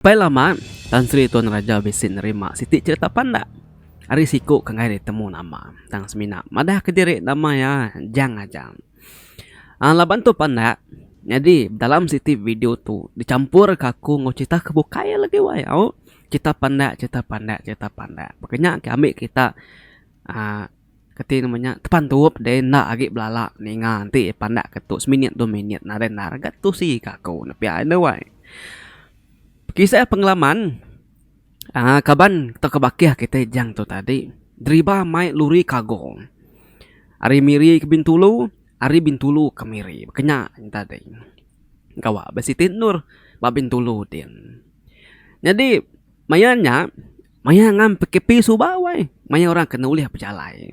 Pai lama, Tan Sri Tuan Raja bisi nerima siti cherita pandak ari siku ke enggai ditemu nama tang semina madah ke diri nama iya Jang aja. Aaa laban tu pandak nyadi dalam siti video tu dichampur ka aku enggau cherita ke bukai iya legi wai au cherita pandak cherita pandak cherita pandak. Baka nya ke ambi kita aaa. Keti nemu nya tepantup deh enda agi belala ninga enti pandak ke tu seminit dua minit nadai endar ga tusi ka aku nepi ai enda wai. Bekisah pengalaman aaa kaban tauka bakih kite jang tu tadi deriba mai lori kargo ari miri ke bintulu ari bintulu ke miri ke nya tadi gawa ba siti endur ba bintulu din. Nyadi maya nya Maya ngan PKP suba wai, maya orang kena ulih bejalai.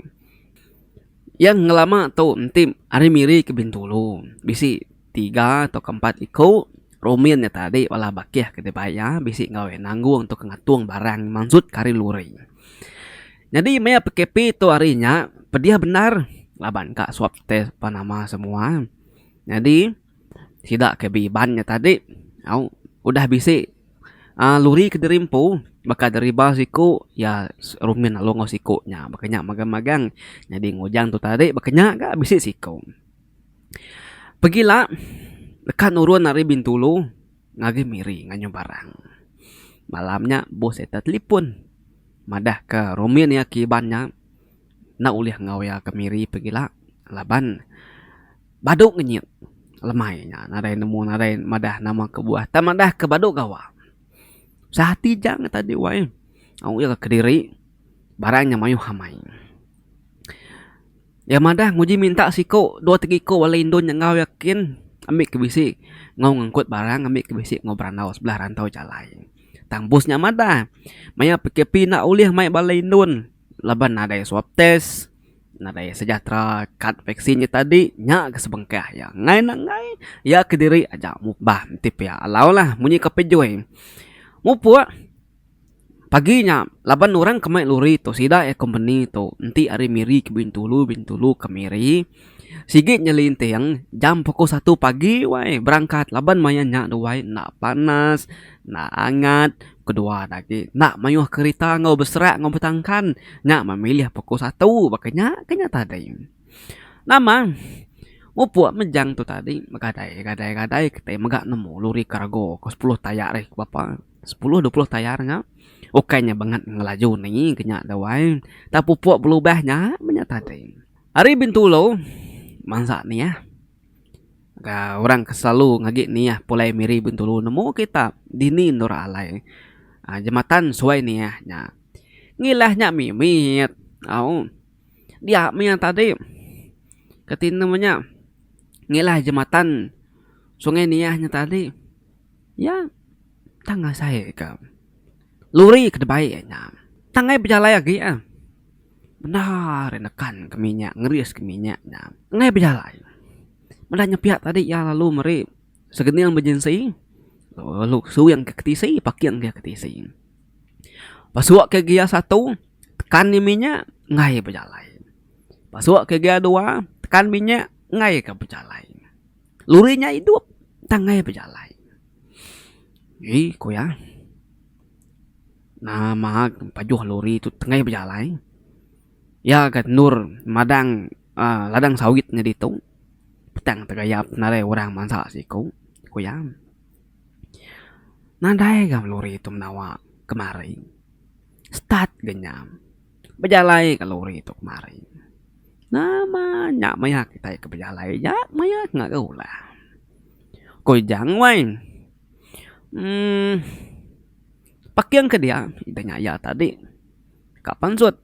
Iya ngelama tu enti ari Miri ke Bintulu, bisi tiga tauka empat iku rumin nya tadi bala bakih ke dibai iya bisi enggau iya nanggung tauka ngatung barang mansut ke ari lori. Nyadi maya PKP tu ari nya pedih bendar laban ka swab test ba nama semua. Nyadi. Sida ke beiban nya tadi au udah bisi uhh luri ke diri empu baka deriba siku iya rumin lalu enggau siku nya baka nya magang magang nyadi enggau ujan tu tadi baka nya ga bisi siku. Pegila deka nurun ari bintulu ngagai miri nganyung barang. Malam nya boss ita telefon madah ka rumin iya ke iban nya. enda ulih enggau iya kemiri pegila laban badu ngenyit lemai nya nadai nemu nadai madah nama kebuah tang madah ke badu gawa usaha ti jang ita ti wai au iya kediri barang nya mayuh amai iya madah nguji minta siko dua tiga iko bala indu nya enggau iya kin ambi ke bisi enggau ngangkut barang ambi ke bisi enggau berandau sebelah rantau jalai tang bos nya madah maya pkp enda ulih mai bala indun. laban nadai swab test, nadai sejahtera kad vaksin nya tadi nya ke sebengkah iya ngai nenggai iya kediri aja mupbah enti pia alau lah munyi ka pejoi mupuk pagi nya laban orang ke mai lori tu sida iya company tu enti ari miri ke bintulu bintulu ke miri. Sigi nyelinting jam puku satu pagi wai berangkat laban maya nya tu wai enda panas enda angat kedua nya agi enda mayuh kerita enggau beserak enggau betangkan nya memilih puku satu ba ke nya ke nya tadi. Nama mupuk mejang tu tadi begadai gadai gadai kitai mega nemu lori kargo ke sepuluh tayar ai berapa sepuluh dua puluh tayar nya bukan nya bangat ngelaju ni ke nya tu ai nta pupuk belubah nya meh nya tadi. Ari Bintulu, mansa Niah. Ga orang ke selalu ngagi Niah pulai miri Bintulu nemu kita dini endur alai aaa jematan suai Niah nya. Ngilah nya mimit au. Dia mih tadi ke tinem nya ngilah jematan sungai Niah nya tadi. Iya tang asai ke lori ke dibai iya nya. Tang ai bejalai agi iya bendar iya nekan ke minyak ngeris ke minyak nya. Tang ai bejalai meda nya pia tadi iya lalu meri segening emergency lalu suing ke tisi paking ke tisi. Pasuk ke gear satu tekan nya minyak ngai bejalai pasuk ke gear dua tekan minyak ngai ke bejalai. Luri nya idup tanggai bejalai. Ui ku iya. Nama pajuh luri tu tengah bejalai. Iya ke endur madang uhh ladang sawit nya ditu. Petang tegayap nadai orang mansa siku, ku iya. Nadai ga luri tu menawa kemari. Start ga nya. Bejalai ka lori tu kemari. Nama nya maya kitai ke bejalai ja maya ke ngaga ulah. Ko Ijang wai uhh paking ke dia idah nya iya tadi ka pansut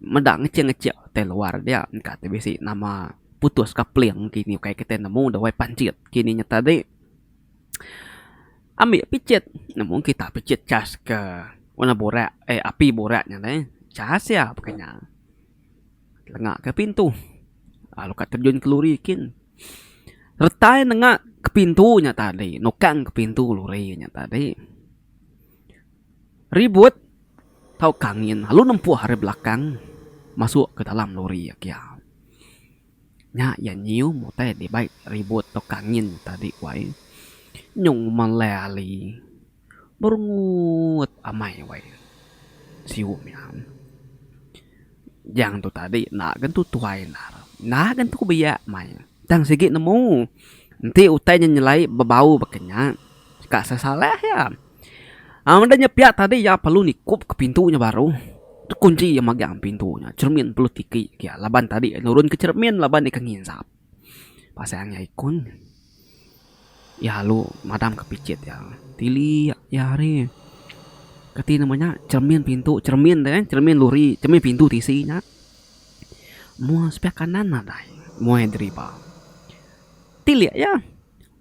meda ngechik ngechik tai luar dia engka ti bisi nama putus ka peling kini ukai kitai nemu dawai panchit kini nya tadi. Ambi picit nemu kita picit chas ke warna burak eh api burak nya alai chas iya pun kena tenga ke pintu lalu ka terjun keluri kin retai nenga ke pintu nya tadi nukang ke pintu luri nya tadi ribut tauka angin lalu nempuh ari belakang masuk ke dalam luri agi. Nya iya nyium utai dibai ribut tok angin tadi ku ai. Nyung melai ali. Berungut amai wai siu nya. Jang tu tadi enda gen tu tuai endar. Enda gen tu biak mai. Tang sigi nemu. Enti utai nya nyelai bebau baka nya ka sesalah iya. Enda nya pia tadi iya perlu nikup ke pintu nya baru kunchi iya magang pintu nya cermin perlu tiki iya laban tadi iya nurun ke cermin laban iya ke ngisap pasal iya ngeii ikun iya lalu madam ke pichit iya tili iya hari kati nama nya cermin pintu cermin tu kan cermin lori cermin pintu tisi nya mua sepiak kanan nadai mua iya deriba tili iya.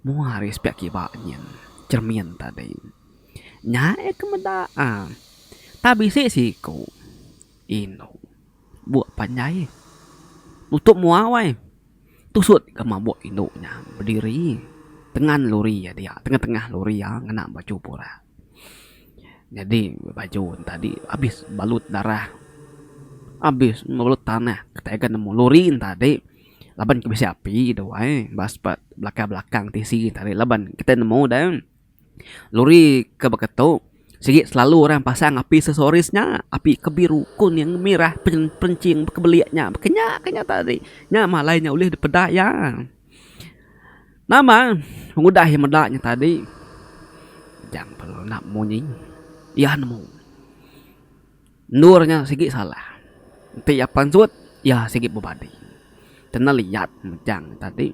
Mua ari sepiak kiba nyin cermin tadi. Nya eh ke meda ah. Tang bisi siku. Inu. Buk panjai. Nutup mua wai. Tusut ka mabuk indu nya bediri tengan lori iya dia tengah-tengah lori iya ngena baju burak. Nyadi baju ne tadi abis balut darah abis balut tanah tega nemu lori ne tadi laban ke bisi api de wai bas pa belakang belakang tisi ne tadi laban kita nemu de lori ke baka tu sigi selalu orang pasang api se soris nya api ke biru kun yang merah perinching bekebelik nya ke nya ke nya tadi nya malai nya ulih dipeda iya. Nama pengudah iya meda nya tadi jangan perlu enda munyi iya nemu endur nya sigi salah enti iya pansut iya sigi bebadi kenal iyat mejang tadi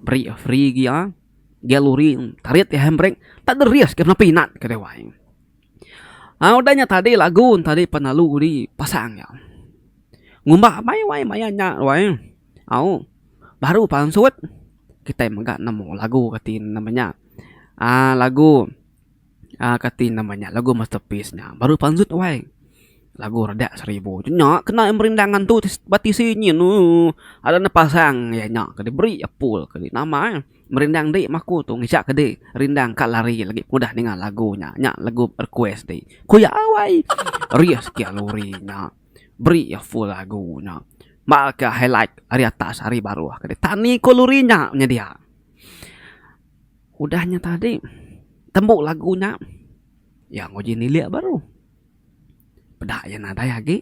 beri iya free gia gia lori tarit iya hand brake tada risk ke nepi nat ke dewai au udah nya tadi lagu tadi pelalu udi pasang iya ngumba maya maya nya wai. Au baru pansut kitai mega nemu lagu kati nama nya uhh lagu uhh kati nama nya lagu masterpiece nya baru pansut wai lagu radak seribu tu nya kena merinda ngantu ba tisi nyin ooh ada ne pasang iya nya kadi beri apul kadi nama eh merinda indi meh aku tu ngejak kadi rinda ka lari lagi ku udah ninga lagu nya nya lagu request ti ku iya wai rieh siti lagu nya. Beri iya full lagu nya. Mbalka highlight ari atas ari baruh kadi tani ku luri nya nyedia. Udah nya tadi tembu lagu nya iya nguji nilik baru. Peda iya nadai agi.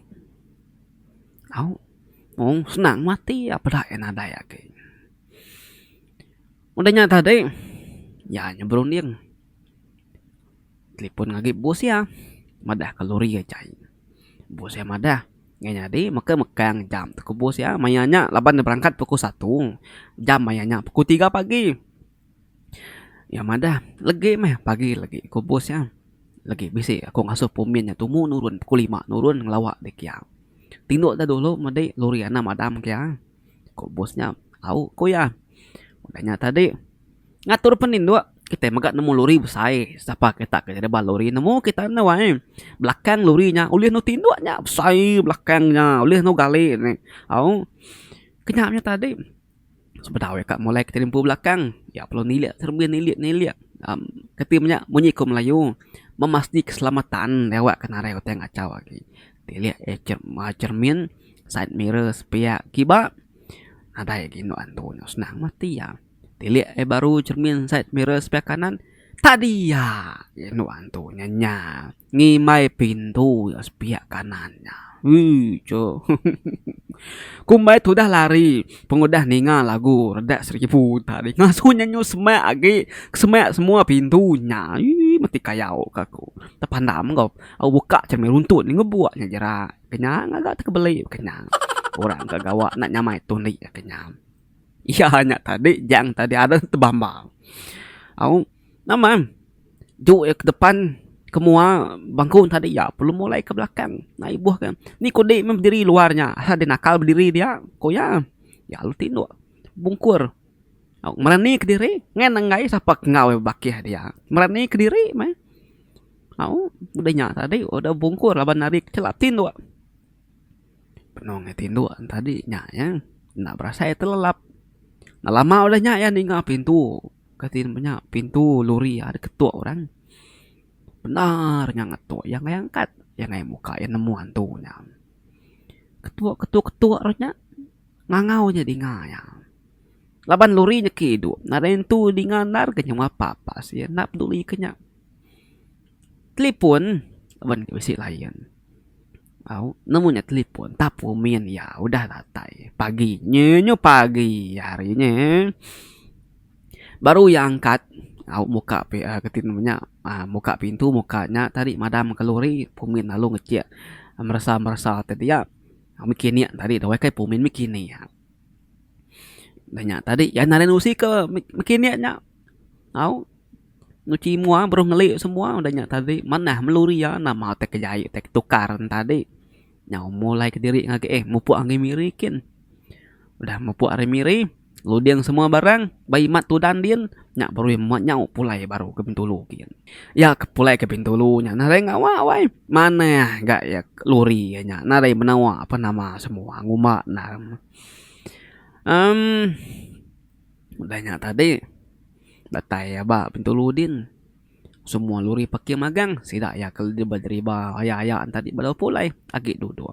Au mung senang mati iya peda iya nadai agi. Udah nya tadi iya nyerunding. Telipon ngagi bos iya madah ke lori iya jai. Bos iya madah, Ngai nyadi meka mekang jam te ku bos iya maya nya laban ne berangkat pukul satu jam maya nya pukul tiga pagi. Iya madah, Legi meh pagi legi ku bos iya. Legi bisi aku ngasuh pumin nya tumu nurun pukul lima nurun ngelawa dek iya. Tinduk da dulu medi lori anang madam ke iya. Ku bos nya, Au, ku iya. Udah nya tadi, ngatur peninduk. Kitai mega nemu lori besai. Sapa kita ke jadi ba lori nemu kita enda wai. Belakang lori nya ulih endu tinduk nya besai belakang nya. Ulih endu gali ne. Au, ku nya nya tadi. Sebedau deka mulai kitai nempu belakang, iya perlu nilik serembi nilik nilik. Am, kati menya munyi ku melayu, memastikan keselamatan dewek ke narai utai ngachau agi. Tilik cermin, side mirror sepiak kiba nadai agi endo antu nya senang meh ti iya. Tilik ai baru cermin side mirror sepiak kanan tadi iya je endo antu nya nya ngimbai pintu iya sepiak kanan nya ui cho ku mbai tudah lari pengudah ninga lagu redak seribu tadi ngasu nya nyu semak agi semak semua pintu nya ii mesti kayau ka ku tepandam ko. Au buka cermin runtut nya ngebuk nya jerak. Kenyang ngaga te kebeli be kenyang. Orang ke gawa enda nyamai tu indi iya kenyang. Iya nya tadi jang tadi ada te bamba. Au nama juk iya ke depan ke mua bangku nya tadi iya perlu mulai ke belakang nai ibuh ke. Ni kudi meh bediri luar nya. Aha deh nakal bediri dia? Ku iya. Iya lalu tinduk bungkur. Merani kediri ngan enggai sapa ke enggau iya bakih dia. Merani kediri meh. Au udah nya tadi udah bungkur laban ari kecela tinduk. Benung iya tinduk tadi nya iya enda berasai iya telelap. Enda lama udah nya iya ninga pintu kati ne nya pintu lori iya diketuk orang. Bendar nya ngetuk iya enggai angkat. Iya enggai muka iya nemu hantu nya. ketu ketu ketu ru nya ngangau aja dinga iya. Laban lori niki idu nadai nentu dinga endar ke nyungka papa sien enda peduli ke nya. Telefon laban dep bisi line au nemu nya telefon tapung min iya udah datai pagi nyenye pagi hari nye. Baru iya angkat au muka ketin inya nya aaa muka pintu muka nya tadi madam ka lori pumin lalu ngejek meresa meresa ti dia mekinik tadi dawai kai pumin mekinik iya. Dah nya tadi iya ngaran usi ke mekinik nya au nyuci mua baru ngeli semua dah nya tadi manah melori iya nama utai kejai utai ketukar ne tadi. Nyau mulai kediri ngagai eh mupuk ari miri kin. Udah mupuk ari miri, luding semua barang ba imat tudan din nya baru iya muat nyau pulai baru ke Bintulu gin. Iya ke pulai ke Bintulu nya nadai ngawa wai. Manah ga iya lori iya nya nadai menawa apa nama semua ngumba endang. Em udah nya tadi datai iya ba Bintulu din. Semua luri pekir magang sida iya ke dideriba aya aya entadi bala pulai agi duduk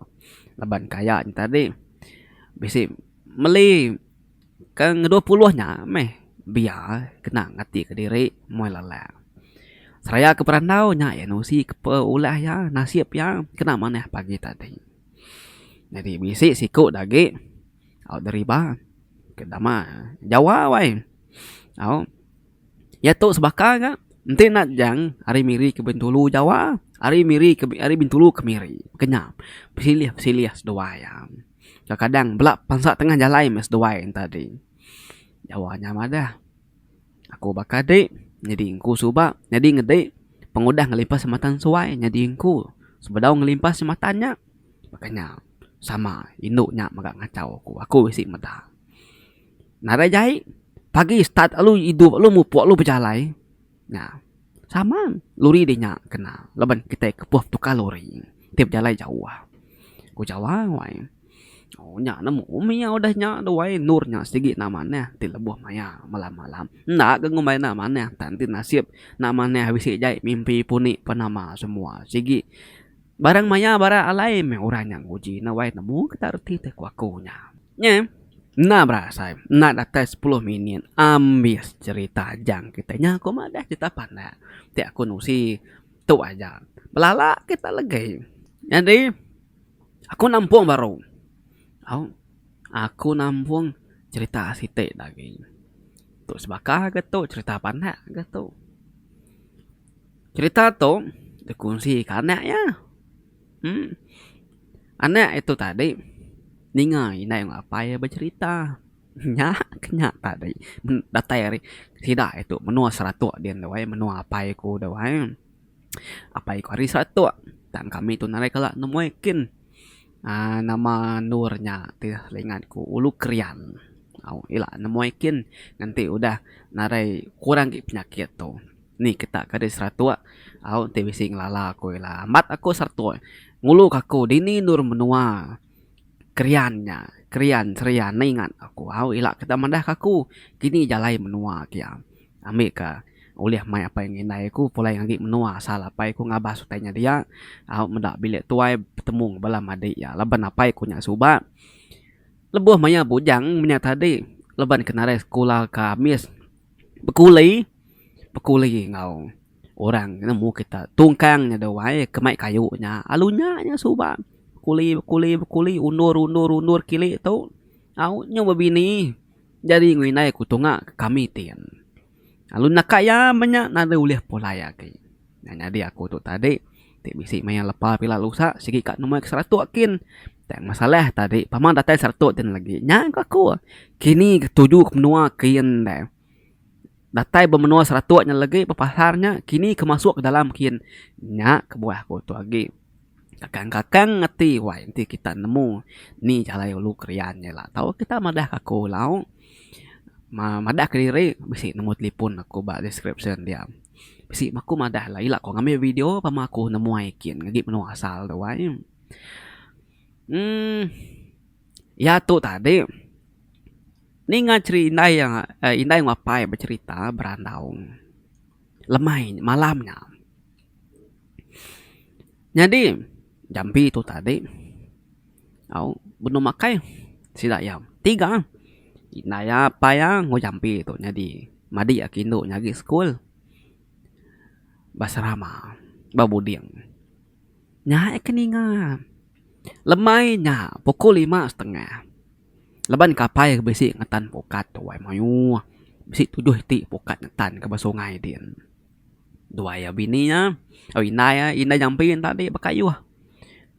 laban ke aya entadi bisi meli ke ngedua puluh nya meh biya kena ngati kediri muai lalak. Seraya ke perandau nya iya nusi ke ulah iya nasip iya kena manah pagi tadi. Nyadi bisi siku da agi deriba ke dama Jawa wai au. Iya tu sebaka ga enti enda jang ari miri ke bintulu jawa ari miri ke ari bintulu ke miri kenyau pesilih pesilih seduai iya. Kadang kadang bela bansa tengah jalai meh seduai enta adi jawa nya madah aku baka di nyadi engku suba nyadi ngedi pengudah ngelimpah semeton sesuai nyadi engku sebedau ngelimpah semeton nya baka nya sama indu nya mega ngachau aku aku bisi meda. Nadai jai pagi start alu idup alu mupuk alu bejalai nya sama lori deh nya kena laban kitai kepuh betukar lori ti bejalai jauh ku jawa wai ooh nya ne mbuh mih iya udah nya tu wai endur nya sigi enda manah ti lebuh maya malam malam enda ke ngumbai enda manah tan enti nasib enda manah bisi jai mimpi puni pun nama semua sigi barang maya barak alai meh orang nya nguji ne wai nemu kita reti ku aku nya. Nya enda berasai, enda datai sepuluh minit ambis cherita Ajang kitai. Nya aku madah cherita pandak ti aku nusi tu aja. Belala kitai legi. Nyadi aku nampung baru. Au aku nampung cherita siti agi. Tu sebaka ke tu cherita pandak ke tu. Cherita tu dikunsi ke anak iya. Anak iya tu tadi ninga indai enggau apai iya becerita. Nya ke nya tadi datai ari sida iya tu menua Seratok din tu ai menua apai aku tu ai. Apai aku ari Seratok tang kami tu narai kala nemuai kin aaa nama endur nya ti seingat aku Ulu Krian. Au ila nemuai kin ngenti udah narai kurang agi penyakit tu. Ni ketak ka deh seratok au enti bisi ngelala aku ila. Amat aku seratok. Ngulu ka aku dini endur menua Krian nya. Krian Seria neh ingat aku. Au ila ketak madah ka aku kini jalai menua kia. Ambi ka ulih mai apai enggau indai aku pulai ngagi menua asal apai ku ngabas utai nya dia. Au meda bilik tuai betemu enggau bala madik iya laban apai ku nya suba lebuh maya bujang menya tadi laban ke narai sekula ka amis. Bekuli, bekuli enggau orang nemu kita tungkang nya duai ke mai kayu nya alu nya nya suba bekuli bekuli bekuli undur undur undur kili tu au nyu ba bini jadi ku indai ku tunga ke kami ti lalu naka iya menya nadai ulih pulai agi nya nyadi aku tu tadi. Ti bisi maya lepa pila lusa sigi ka numai ke seratok kin. Tang masalah tadi pama datai seratok tin lagi nya ku aku kini ketuju ke menua kin deh. Datai ba menua seratok nya lagi ba pasar nya kini ke masuk ke dalam kin nya kebuah aku tu agi. Kakang kakang ati wai enti kita nemu ni jalai ulu Krian nya ila tau kita madah aku lau. Madah kediri bisi number telefon aku ba description dia. Bisi mah aku madah alai ila ko ngambi video pak mah aku nemuai kin ngaji menua asal tu ai. uhh iya tu tadi ninga cheri indai iya indai enggau apai becherita berandau lemai malam nya. Nyadi jambi tu tadi au benung makai sida iya tiga indai iya apai iya enggau jambi tu nyadi madi iya ke indu nyadi sekul ba serama ba buding nya aja ke ninga lemai nya pukul lima setengah laban kapai ke bisi ngetan pukat tu mayuh bisi tujuh iti pukat ngetan ka ba sungai din. Dua iya bini nya, au indai iya, indai jampi nya tadi bekayuh.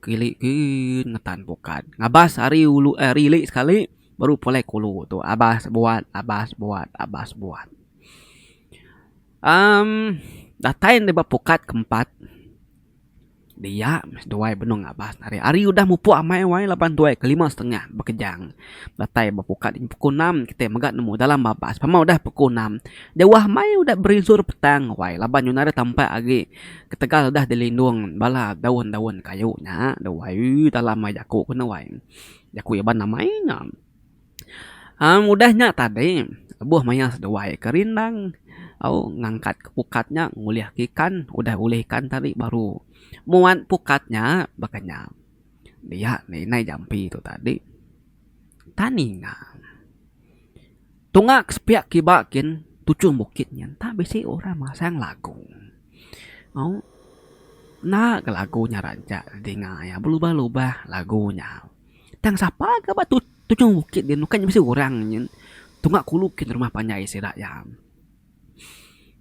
Kilik kiik ngetan bukan. Ngabas ari ulu eh ari ili sekali baru pulai ke ulu tu. Abas buat, abas buat, abas buat. Um datai ndeh ba pukat ke empat. Dia meh tuai benung ngabas ari hari udah mupuk amai wai laban tuai ke lima setengah bekejang. Datai ba pukat dini pukul enam kitai mega nemu dalam babas pama udah pukul enam. Jauh amai udah berinsur petang wai laban nyunar iya tampak agi ketegal udah dilindung bala daun-daun kayu nya. Duai dalam ai jaku ke ne wai. Jaku Iban amai nya. Am udah nya tadi lebuh mayar seduai ke rindang au ngangkat ke pukat nya ngulih ke ikan udah ulih ikan tadi baru muat pukat nya bekenyang dia meh indai jampi tu tadi tani nya tunga ke sepiak kiba kin tuchum bukit nya enta bisi orang masang lagu au enda ga lagu nya rancak dinga iya belubah lubah lagu nya. Tang sapa ga ba tu tujung bukit nya bukan nya bisi orang nyin tunga kulu kin rumah panjai sida iya.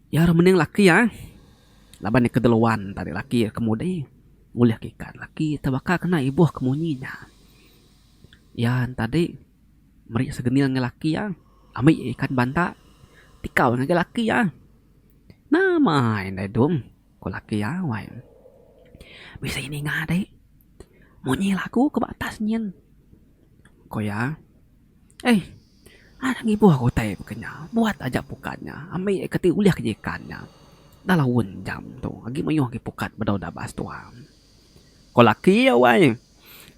Iya orang mending laki iya eh laban iya kedeluan tadi laki iya kemudi ngulih ka ikan laki iya tebaka kena ibuh ke munyi nya. Iya tadi meri segening ngagai laki iya ambi ikan banta tikau ngagai laki iya. Nama indai dum ku laki iya wai. Bisi ninga deh. Munyi lagu ke ba atas nyin. Ko iya, Ei, anak ngibuh aku utai baka nya. Buat aja pukat nya. Ambi iya ke ti ulih ke ikan nya. Dah laun jam tu. Agi mayuh agi pukat ba dau dabas tu. Ko laki iya, Wai,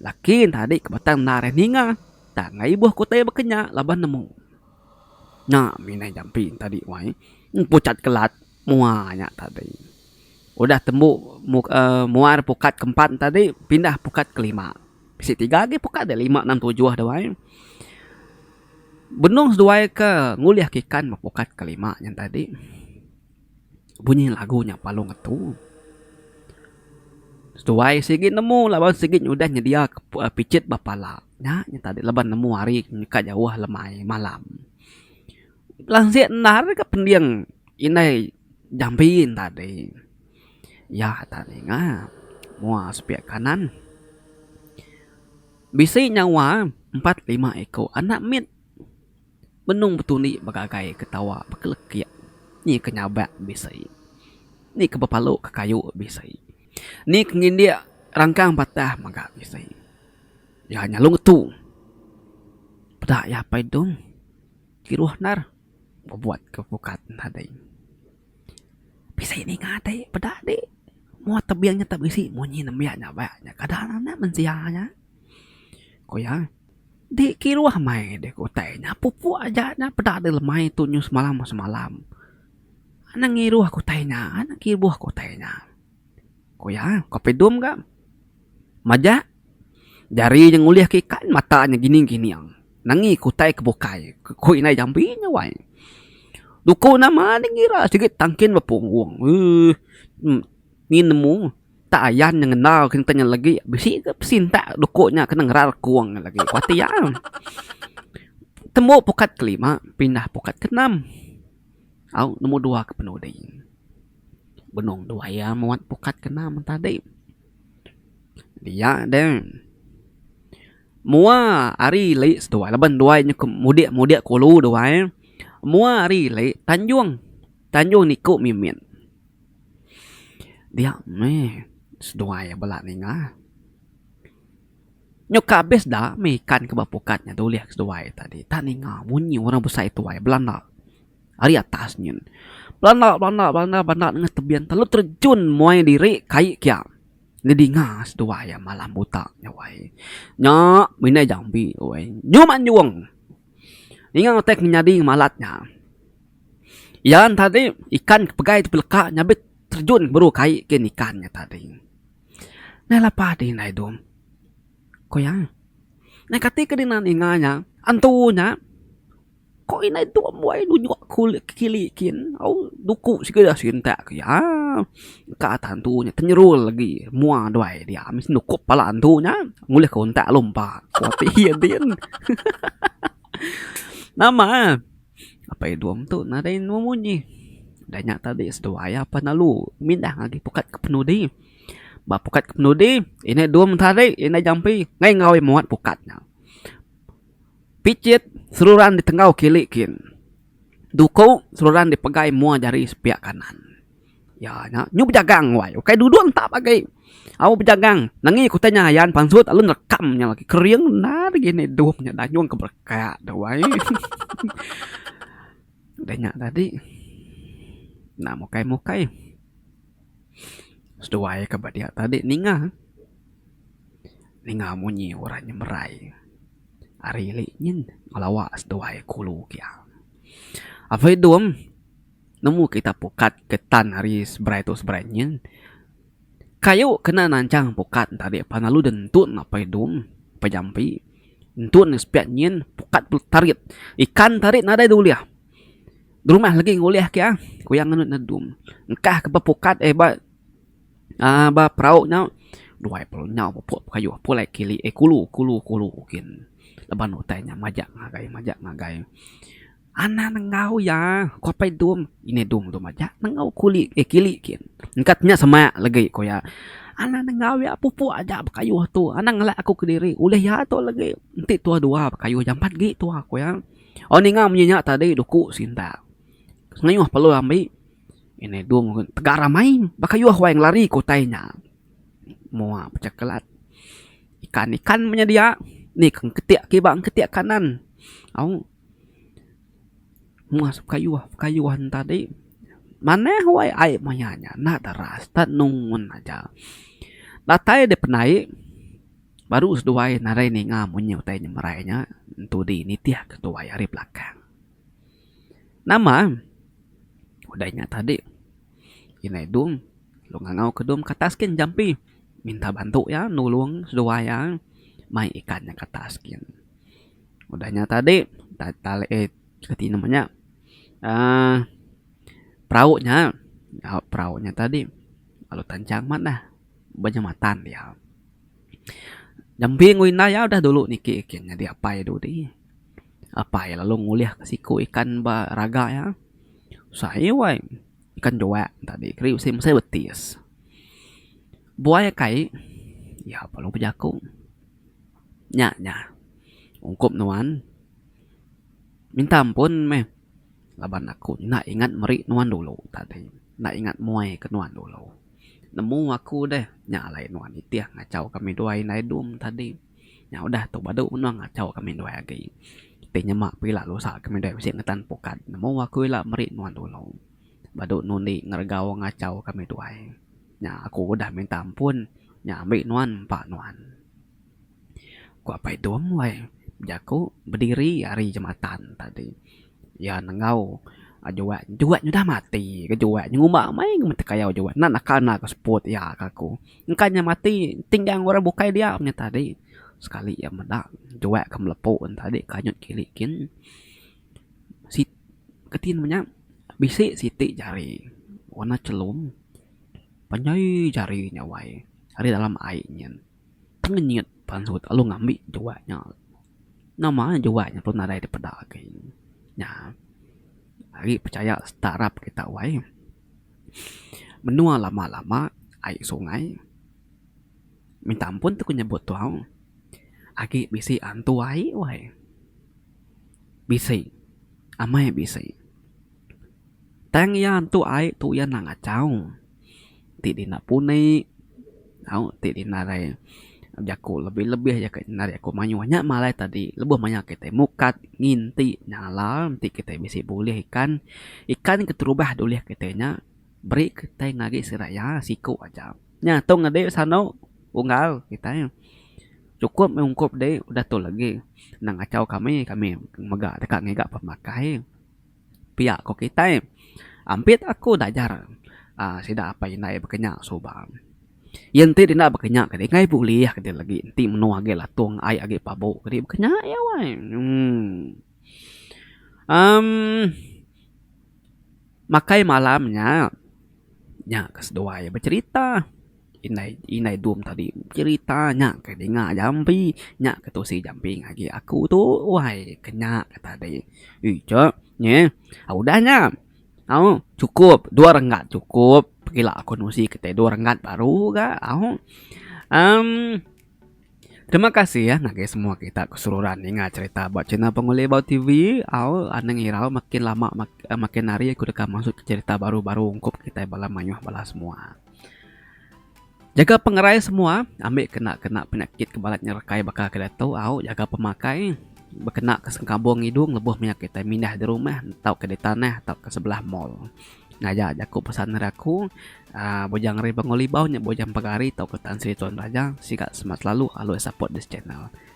laki enti ari ke batang enda ari ninga. Tang ai ibuh aku utai baka nya laban nemu. Nya mina jampi enti ari, Wai. Pucat kelat. Mua nya tadi. Udah tembu muar pukat ke empat tadi pindah pukat ke lima. Bisi tiga agi pukat dia lima enam tujuh dua ai. Benung seduai ke ngulih ke ikan ba pukat ke lima nya tadi bunyi lagu nya palu ngetu. Seduai sigi nemu laban sigi udah nyedia picit ba pala. Nya nya tadi laban nemu hari ka jauh lemai malam. Lansik endar ka pending indai jambi tadi. Iya atas ninga mua sepiak kanan. Bisi nyawa empat lima iko anak mit benung betundi begagai ketawa bekelekik ni ke nyabak bisi ni ke bepalu ke kayu bisi ni ke ngindik rangkang patah mega bisi. Iya nyalung tu peda iya apai dong. Kiruh endar bebuat ke pukat nadai. Bisi ninga ti peda di mua tebing nya tak bisi munyi nembiak nya ba nya kada anak mensia nya. Ku iya, di kiruh meh di ke utai nya pupuk aja nya peda di lemai tunyus semalam semalam. Nang ngiruh ke utai nya, nang kibuh ke utai nya. Ku iya, Kopi Dum ga majak jari nya ngulihka ikan mata nya gining gining. Nangih ke utai ke bukai. Ku indai Jambi nya wai. Duku nama deh ngira sigi tangkin bepunggung. Eeh ngin nemu tak ayan nya ngena kin ntanya lagi bisi ke pesintak duku nya kena ngeral kung nya lagi. Ku ati iya. Tembu pukat kelima pindah pukat keenam. Au nemu dua ke penudi. Benung dua iya muat pukat kena mentadi. Dia de mua ari li seduai laban duai nyukup mudik mudik kulu duai mua ari li tanjung tanjung niko mimit dia meh seduai iya bela ninga nyau ka abis da meh ikan ke ba pukat nya dulih ke seduai tadi ta ninga munyi orang besai tuai belanda. Ari atas nyin, belanda belanda belanda belanda nengah tebing telalu terejun muai diri kai kia ngedinga seduai iya malam buta nya wai. Nya minai jambi tu wai. Nyum anjung ninga utai ke nyadi malat nya. Iya nya tadi ikan ke pegai ti beleka nya be terejun beru kai ke nya ikan nya tadi. Nah lepa ti indai tu ku iya, nah kati ke dina ninga nya antu nya. Ko indai tu mbuai nunjuk aku lek ke kili kin au duku siku ida sintak ke iya. Ka atan tu nya tenyerul agi mua duai dia meh seh nukup pala antu nya ngulih ke untak lalu empa ko ti iya din. Nama apai dom tu nadai nemu munyi da nya tadi seduai apai lalu mindah agi pukat ke penudi. Ba pukat ke penudi indai dom tadi indai jampi nggai ngau muat pukat nya. Picit seruran di tenggau kili kin. Duku seruran di pegai mua jari sepiak kanan. Ya nya nyu bejagang wai ukai duduk entap agi. Au bejagang nengi ku utai nya ayan pansut lalu nerekam nya lagi kering enda lagi enda idup nya dayung ke berekak tu wai. Udah nya tadi enda mukai mukai seduai ke ba dia tadi ninga ninga munyi orang nyemerai. Ari ili nyin ngelawa seduai kulu kiang. Apai Dum nemu kita pukat ke tan ari seberai tu seberai nyin. Kayu kena nanchang pukat tadi pan lalu deh ntun Apai Dum, Apai Jampi. Ntun deh sepiak nyin pukat tu tarit. Ikan tarit nadai deh ulih. Derumah legi ngulih kiang ku iya ngenut ne Dum. Engkah ke ba pukat eh ba. Aa ba perau nyau duai pelu nyau pupuk pekayuh pulai kili eh kulu kulu kulu gin laban utai nya majak ngagai majak ngagai anang enggau iya ko pei dung ini dung tu majak enggau kuli eh kili gin engkat nya sama legi ko iya anang enggau iya pupuk aja pekayuh tu anang ngela aku kediri ulih iya tu legi enti tuwa duwa pekayuh jampat agi tuwa ko iya oh ninga munyi nya tadi duku sintak pengayuh pelu ambi. Inai Dum ngun tegar ramai baka yuh wai ngelari ke utai nya. Moa pecah kelat. Ikan-ikan meh nya dia. Ni ke engketik ke iba engketik kanan. Au. Moa pekayuh-pekayuh ne tadi. Manah wai ai maya nya. Enda deras. Enda nengun aja. Datai deh penai. Baru seduai narai ninga munyi utai nya merai nya. Entu dih nitih ke tuai ari belakang. Nama? Udah inya tadi. Inai Dum lu ngangau ke Dum ke atas kin jampi minta bantu iya nulung seduwa iya mai ikan iya ke atas kin. Udah inya tadi tinem inya aaa perau inya au perau inya tadi lalu tanchang amat dah ba jematan dia. Jampi enggau inai iya udah dulu niki kin nyadi apai dudi. Apai lalu ngulihka siku ikan ba raga iya. Usai wai ikan juak tadi keri bisi mesai betis. Buai iya kai iya pa lu bejaku. Nya nya ungkup nuan minta ampun meh laban aku enda ingat meri nuan dulu tadi enda ingat muaika nuan dulu. Nemu aku deh nya alai nuan nitih ngachau kami dua indai dom tadi. Nya udah tu badu menung achau kami ndai agi. Ti nyema pun ila lusa kami ndai bisi ngetan pukat nemu aku ila meri nuan dulu. Badu nundi ngeregau ngachau kami tuai. Nya aku udah minta ampun nya ambi nuan empa nuan. Ku Apai Tum wai bejaku bediri ari jematan tadi. Iya nenggau Juat, Juat nyudah mati ke Juat nyengumba mei ngemetek ayau Juat. Enda naka enda ke seput iya ke aku. Engka nya mati enting gang orang bukai dia nya tadi sekali iya meda juak ke melepo nya tadi kanyut kili kin sit keti nemu nya bisi siti jari warna chelum panjai jari nya wai ari dalam ai nyin tengenyit pan sut lalu ngambi juak nya nama juak nya perlu nadai dipeda agi nya agi pechaya sita arap kita wai. Menua lama lama ai sungai minta ampun tu ku nyebut tau agi bisi antu ai wai bisi amai bisi tang iya antu ai tu iya ngachau ti dina puni Au ti dinarai jaku lebih-lebih aja ke nari aku mayuh nya malai tadi lebuh mayar kitai mukat nginti nyala enti kitai bisi bulih ikan. Ikan keterubah dulih kitai nya beri kitai ngagi sida iya siku aja. Nya tu ngedi sanu unggal kitai chukup mih ungkup di udah tu legi nengachau kami, kami mega deka ngiga pemakai. Pia ko kitai. Ampit aku da ajar uhh sida apai indai bekenya suba. Iya enti denda bekenya kadi kai bulih kadi lagi enti menoh agi latung ai agi pabu kadi bekenya iya wai uhh. Uhh makai malam nya nya ke seduai becerita. Indai indai dom tadi cerita nya ke dinga jampi nya ke tusi jampi ngagai aku tu wai ke nya ke tadi ija nyi udah nya au chukup dua renggat chukup pekila aku nusi kitai dua renggat baru ga au emm terima kasih ya ngagai semua kita keseluruhan ninga cerita ba channel pengelih bau TV au anang irau makin lama makin hari aku deka masuk ke cerita baru baru ungkup kitai bala mayuh bala semua. Jaga pengerai semua ambi kena kena penyakit ke balat nyerekai baka ke diatu au jaga pemakai bekena ke sengkabung idung lebuh maya kitai mindah de rumah tau ke di tanah tau ke sebelah mall. Ngaja jaku pesan ari aku aaa Bujang Ari Bangau Libau nya bujang pegari tau ke Tan Sri Tuan Raja siga semat selalu alui support this channel.